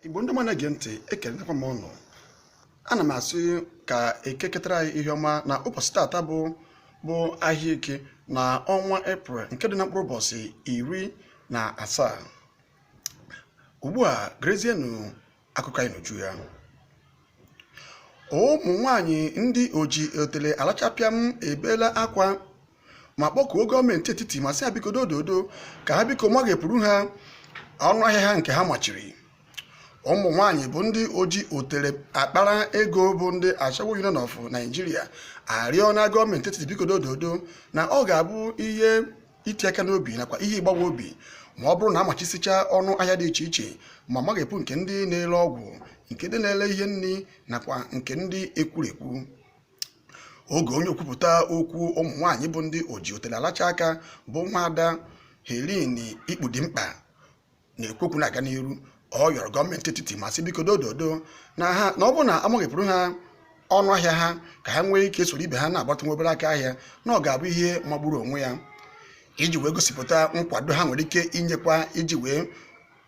igbo ndị ọma na-ege ntị ekelenakwa m ụnụ ana m asị ka eke ketara anyị ihe ọma na ụbọchị taata bụ ahịa eke na ọnwa eprel nke dị na mkpụrụ ụbọchị iri na asaa ugbu a gerezienụ akụkọ anyị n'uju ya ụmụ nwanyị ndị oji otele alacha pịam ebeela akwa ma kpọkuo gọọmenti etiti ma sị ha biko dododo ka ha biko maghepụrụ ha ọnụ ahịa ha nke ha machiri ụmụ nwanyị bụ ndị oji otele akpara ego bụ ndị Ashawo Union of Nigeria arịọna gọọmenti etiti biko dododo na ọ ga-abụ ihe iti aka n'obi nakwa ihe ịgbawa obi ma ọ bụrụ na amachisicha ọnụ ahịa dị iche iche ma maghepụ nke ndị na-ele ọgwụ nke ndị na-ele ihe nni nakwa nke ndị ekwurekwu oge onye okwupụta okwu ụmụ nwaanyị bụ ndị oji otele alacha aka bụ nwaada Helen Ikpudimkpa na-ekwu okwu na-aga n'iru ọ yọrọ gọọmenti etiti ma sị biko dododo na ọ bụrụ na amaghepụrụ ha ọnụ ahịa ha ka ha nwee ike soro ibe ha na-agbatụ nwa obere aka ahịa na ọ ga-abụ ihe magburu onwe ya iji wee gosipụta nkwado ha nwere ike inyekwa iji wee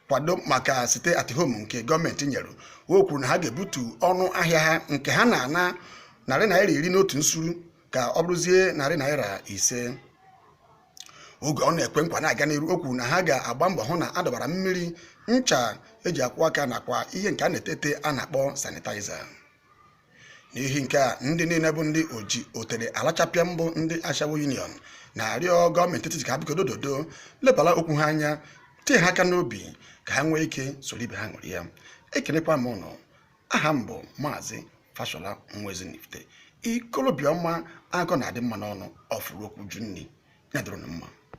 kwado maka sit at home nke gọọmenti nyere o kwuru na ha ga-ebutu ọnụ ahịa ha nke ha na-ana narị naira iri n'otu nsuru ka ọ bụrụzie narị naira ise oge ọ na-ekwe nkwa na-aga n'iru o kwuru na ha ga-agba mbọ hụ na a dọbara mmiri ncha eji akwụ aka nakwa ihe nke a na-ete ete a na-akpọ sanitaiza n'ihi nke a ndị niile bụ ndị oji otere alacha pịam bụ ndị ashawo union na-arịọ gọọmenti etiti ka ha biko dododo lebara okwu ha anya tie ha aka n'obi ka ha nwee ike soro ibe ha ṅụrịa ekelekwa m ụnụ aha m bụ maazị fashola nwa ezinifite ikolobịa ọma akụkọ na-adị mma n'ọnụ ọfụrụ okwu jụ nni ya dịrị ụnụ mma